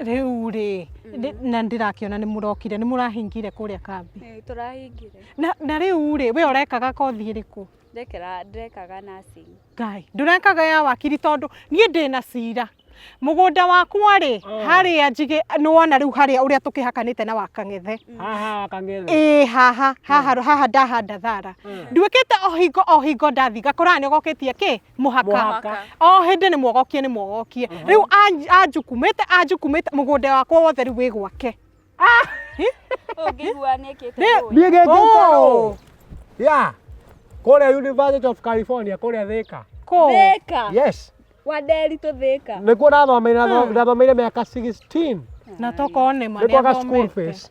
Rĩu rĩ, nĩ- na ndĩrakĩona nĩ mũrokire, nĩ mũrahingire kũrĩa kambi. Ĩĩ, tũrahingire Na, na rĩu rĩ, we ũrekaga kothi ĩrĩkũ? ndekera ndekaga nursing Ngai, ndũrekaga ya wakiri tondũ niĩ ndĩ na cira. Mũgũnda wakwa rĩ, harĩa njigĩ, nĩ wona rĩu harĩa ũrĩa tũkĩhakanĩte na wakang'ethe. haha wakangethe Ĩĩ haha, haha, haha ndahanda thara. Nduĩkĩte o hingo o hingo ndathiĩ ngakoraga nĩ ũgokĩtie kĩ? muhaka Mũhaka. o hindi ni mwogokie ni mwogokie riu anjukumite anjukumite mugunda wakwa wothe riu wi gwake Ũngĩigua nĩkĩte Nĩ- rũĩ. niä gä Oh. kä ya kå rä a university of california kå rä a thä ka ko Thĩka. yes Wa nderitũ thĩka. nä kuo nathomeire nathomeire mä aka 16 na tokone nä kwaga school fees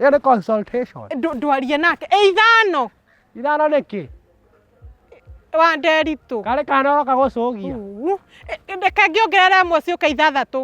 ĩyo nĩ consultation Ndũ- ndwarie nake ĩ ithano ithano nĩkĩ wa nderitũ karĩ kana ũroka gũcũgia Uu. Ĩ- ĩ, reke ngĩongerera ĩmwe ciũke ithathatũ